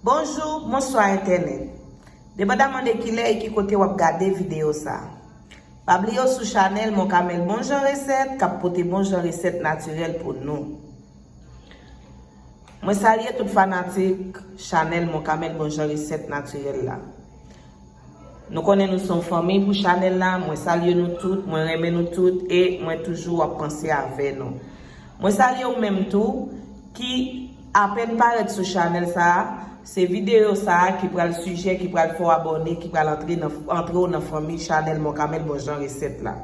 Bonjou, bonswa entènèt. Depandaman de kilè e ki kote wap gade videyo sa. Pa bliye w sou chanèl Moncamel Bon Jan Resèt kap pote bon jan resèt natirèl pou nou. Mwen salye tout fanatik chanèl Moncamel Bon Jan Resèt natirèl la. Nou konnen nou son fanmiy pou chanel la mwen salye nou tout mwen renmen nou tout e mwen toujou ap panse avè nou mwen salye ou menm tou ki apèn parèt sou chanel sa se videyo sa ki pral sijè ki pral fè w abòne ki pral antre w nan fanmiy chanel mò kamèl bon jan resèt la.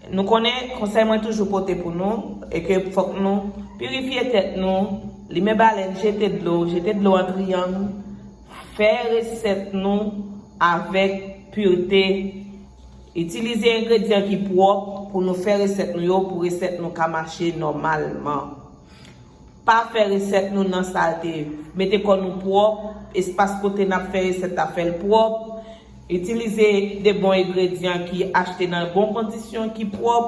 Nou konnen konsèy mwen toujou pote pou nou e ke fòk nou pirifye tèt nou, limen balèn, jete dlo, jete dlo an triyang, fè resèt nou avèk pirte, itilize engredyan ki pwòp pou nou fè resèt nou yo pou resèt nou ka mache nòmalman. Pa fè resèt nou nan salte, mete kò nou pwòp, espas kote nap fè resèt la fèl pwòp. Itilize de bon egredyan ki achte nan bon kondisyon ki pwòp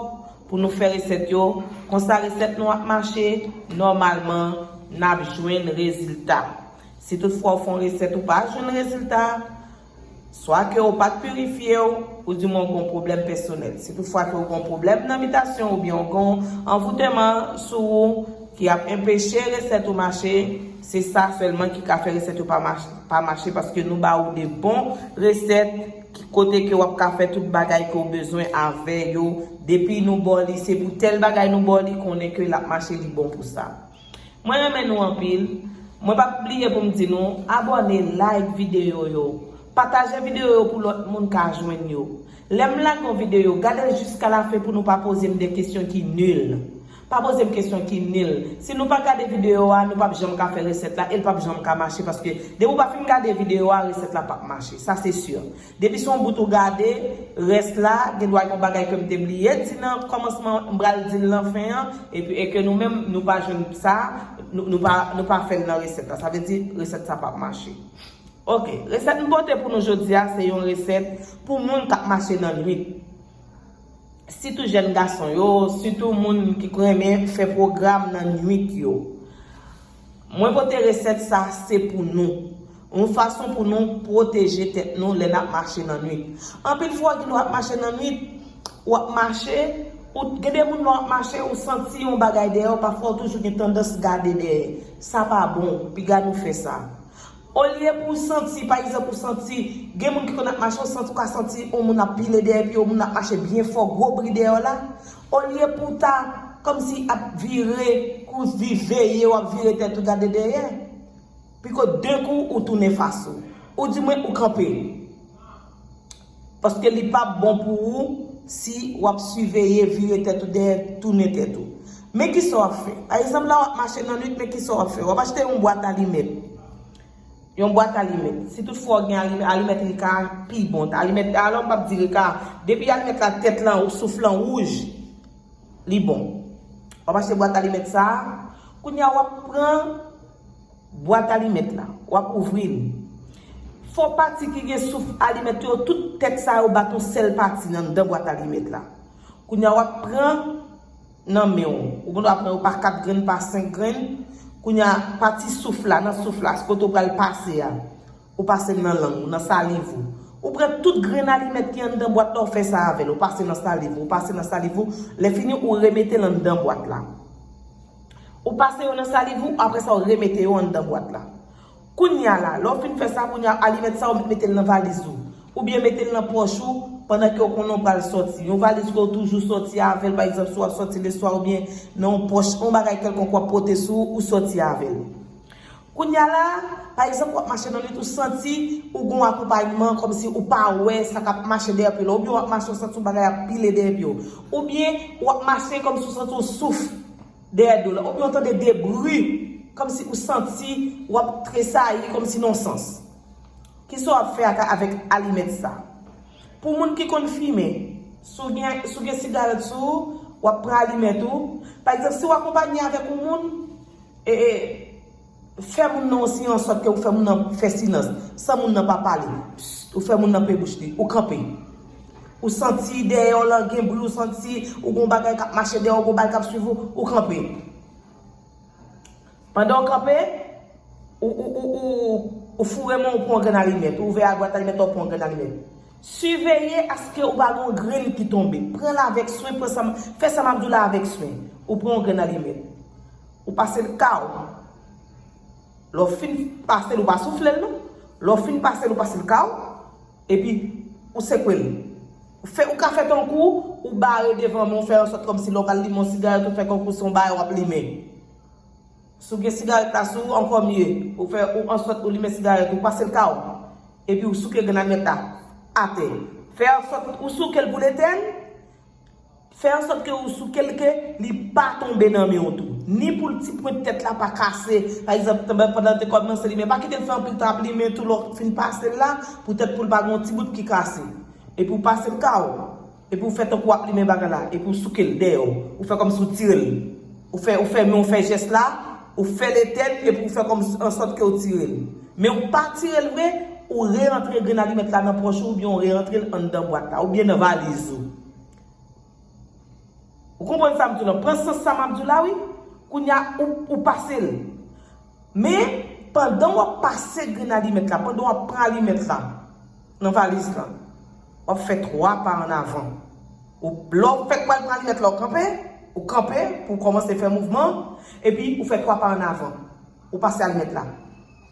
pou nou fè resèt yo, konsa resèt nou ap mache, nòmalman nap jwenn rezilta. Si tout fwa ou fè yon resèt ou pa jwenn rezilta, swa ke ou pat pirifye ou, ou di mwen ou gen yon pwoblèm pèsonèl. Si tout fwa ke ou gen yon pwoblèm nan bitasyon oubyen ou gen yon anvouteman sou ou ki ap enpeche resèt ou mache, Se sa selman ki ka fè resèt yo pa mache paske nou ba ou de bon resèt kote ke wap ka fè tout bagay ke ou bezwen avè yo depi nou baw li se pou tèl bagay nou baw li konnen ke lap mache li bon pou sa. Mwen renmen nou anpil. Mwen pap bliye poum di nou abòne like videyo yo. Pataje videyo yo pou lòt moun ka jwenn yo. Lèm lage yon videyo gadel jiska la fen pou nou pa pozem de kesyon ki nul. Pa poze m kesyon ki nil. Si nou pa gade video a, nou pap janm ka fè resèt la e l pap janm ka mache paske depi w pa fin gade video a, resèt la pap mache. Sa se sur. Depi se yon bout ou gade, rès la, gen dwa gen yon bagay ke m te bliye di nan kòmansman an, m pral di l nan fen an, epi e ke nou menm nou pa jwenn sa, nou pa, nou pa fè l nan resèt la. Sa vle di, resèt sa pap mache. Ok. Resèt m pote pou nou jodi a, se yon resèt pou moun k ap mache nan nwit. sitou jèn gason yo, sitou moun ki renmen fè pwogram nan nwit yo. Mwen pote resèt sa se pou nou. Yon fason pou nou pwoteje tèt nou lè nap mache nan nwit. Anpil fwa gen lè wap mache nan nwit, wap mache, ou gen de moun lè wap mache ou santi yon bagay dèyè w pafwa ou toujou gen tandans gade dèyè. Sa pa bon, piga nou fè sa. Olye pou w santi, pa egzanp ou santi, gen moun ki konn ap mache ou santi ou ka santi on moun ap pile dèyè pye w, moun ap mache byen fò, gwo bri dèyè w la, olye pou w ta kòmsi ap vire kou vi veye w ap vire tèt ou gade dèyè. Piko denkou ou tounen fas ou. Ou di mwen ou kanpe. Paske li pap bon pou ou si wap siveye vire tèt ou dèyè tounen tèt ou. Men kisa w ap fè. Pa egzanp la wap mache nan nwit men kisa w ap fè. Wap achte yon bwat alimèt. Yon bwat alimèt. Si tout fwa w gen alimèt, alimèt rika a pi bon. Alimèt la alò m pap di rika a. Depi alimèt la tèt lan ou souf lan wouj, li bon. Wap achte bwat alimèt sa a. Kounya wap pran. Bwat alimèt la. W ap ouvri l. Fo pati ki gen souf alimèt yo, tout tèt sa yo bat yon sèl pati nan anndan bwat alimèt la. Kounye a w ap pran nan men w. Ou gendwa pran yo pa 4 grenn, pa 5 grenn. Kounye a, pati souf la, nan souf la, kote w pral pase a, ou pase l nan lang ou, nan saliv ou. Ou pran tout grenn alimèt ki anndan bwat la, ou fè sa avè l. Ou pase nan saliv ou, ou pase nan saliv ou. Lèfini, ou remete l anndan bwat la. Ou pase yo nan saliv ou, apre sa ou remete yo anndan bwat la. Kounya la, lè ou fin fè sa, kounya alimèt sa ou mete l nan valiz ou. Oubyen mete l nan pòch ou pandan ke ou konnen ou pral sòti. Yon valiz ke ou toujou sòti avè l, pa egzanp si w ap sòti leswa oubyen nan yon pòch, yon bagay kèlkonk w ap pote sou ou, ou sòti avè l. Kounya la, pa egzanp wap mache nan nwit ou santi ou gon akonpayman kòmsi ou pa wè sa kap mache dèyè pye la oubyen wap mache ou santi yon bagay ap pile dèyè pye w oubyen wap mache kòmsi ou santi yon souf dèyè do la oubyen ou tande de bri kòmsi ou santi wap tresayi kòmsi nan yon sans. Kisa wap fè ak avèk alimèt sa? Pou moun ki konn fimen, si w gen si w gen sigarèt sou ou, wap pran alimèt ou, pa egzanp si w akonpanye avèk yon moun, E e Fè moun nan osi an sòt ke ou fè moun nan fè silans san moun nan pa pale Psst ou fè moun nan pe bouch li Ou kanpe Ou santi dèyè w lan gen bri ou santi ou gon bagay k ap mache dèyè w gon bagay k ap swiv ou Ou kanpe Pandan w kanpe Ou ou ou ou ou foure men w ou pran yon grenn alimèt ou ouvè abwat alimèt la ou pran yon grenn alimèt Siveye aske ou pa gen yon grenn ki tonbe Pran l avèk swen pran sa m fè sa m ap di w la avèk swen Ou pran yon grenn alimèt Ou pasel kaw. Lè w fin pasel ou pa souflel non. Lè w fin pasel ou pasel kaw. Epi ou sekwel. Ou ka fè tankou ou bare devan men w fè ansòt kòmsi lè w pral limen yon sigarèt ou fè tankou se yon bagay wap limen. Si w gen sigarèt la sou ou ankò mye. Ou fè ou ansòt ou limen sigarèt ou pasel kaw. Epi ou souke grenadmet la atè. Fè ansòt ou soukel poul etèn. Fè ansòt ke ou souke l ke li pa tonbe nan men w tou. Ni pou l ti pwent tèt la pa kase, pa egzanp, pandan l te kòmanse limen. Pa kite l fè anpil tan ap limen tou, lè w fin pase l la, poutèt pou l pa gen yon ti bout ki kase. Epi ou pase l ka w. Epi ou fè tankou w ap limen bagay la. Epi ou souke l dèyè w. Ou fè kòmsi ou tire l. Ou fè, ou fè men w fè jès la, ou fè l etèn epi ou fè kòmsi, ansòt ke ou tire l. Men ou pa tire l vre, ou re-antre grenn alimèt la nan pòch ou oubyen ou re-antre l anndan bwat la, oubyen nan valiz ou. Ou konprann sa m di w lan? Pran sans sa m ap di w la wi. Kounye a, ou pase l. Men, pandan w ap pase grenn alimèt la, pandan w ap pran alimèt la nan valiz la, w ap fè twa pa an avan. Ou, lè w fèk pral pran alimèt la, ou kanpe, ou kanpe pou w kòmanse fè mouvman, epi ou fè twa pa an avan. Ou pase alimèt la.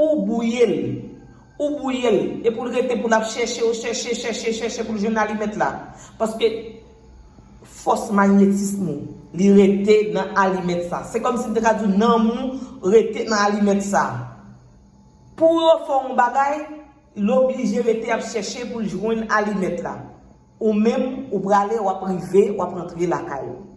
Ou bouye l. Ou bouye l. E pou l rete pou l ap chèche w, chèche, chèche, chèche pou l jwenn alimèt la. Paske fòs magnetism ou li rete nan alimèt sa. Se kòm si m te ka di w nanm ou rete nan alimèt sa. Pou yo fè w yon bagay, l oblije rete ap chèche pou l jwenn alimèt la. Ou menm, ou prale, wap rive, wap rantre lakay ou.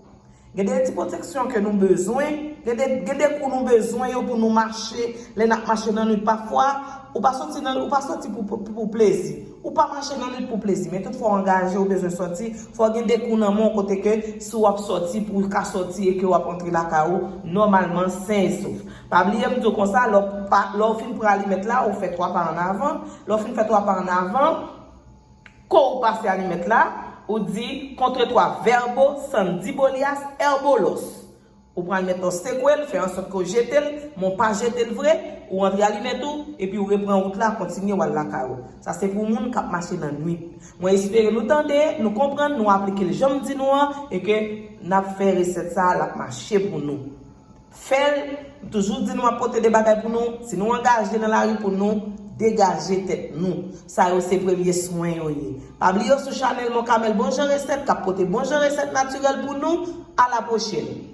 Gen de ti pwoteksyon ke nou bezwen, gen de kou nou bezwen yo pou nou mache, lè nap mache nan nwit pafwa, ou pa soti nan, ou pa soti pou plezi. Ou pa mache nan nwit pou plezi, men tout fwa w angaje, ou bezwen soti, fò gen de kou nan men w kote ke si wap soti pou w ka soti e ke wap rantre lakay ou nòmalman sen e sof. Pa bliye m di w konsa, lè w pa, lè w fin pran alimèt la, ou fè 3 pa an avan, lè w fin fè 3 pa an avan, Kou ou pase a li mèt la, ou di contre toi verbo san di bolias erbo los. Ou pral mèt an sekwe l, fè ansòt ke w jete l, men w pa jete l vre, ou antre a li mèt ou, epi ou repran wout la, kontinye w al lakay ou. Sa se pou moun k ap mache nan nwit. Mwen espere nou tande, nou konprann, nou aplike l jan m di nou an, e ke n ap fè resèt sa a, l ap mache pou nou. Fèl, m toujou di nou map pote 2 bagay pou nou, si nou angaje nan lari pou nou degaje tèt nou. Sa yo se premye swen yo ye. Pa bliye w sou chanèl Moncamel bon jan resèt kap pote bon jan resèt natirèl pou nou, a la pwochèn.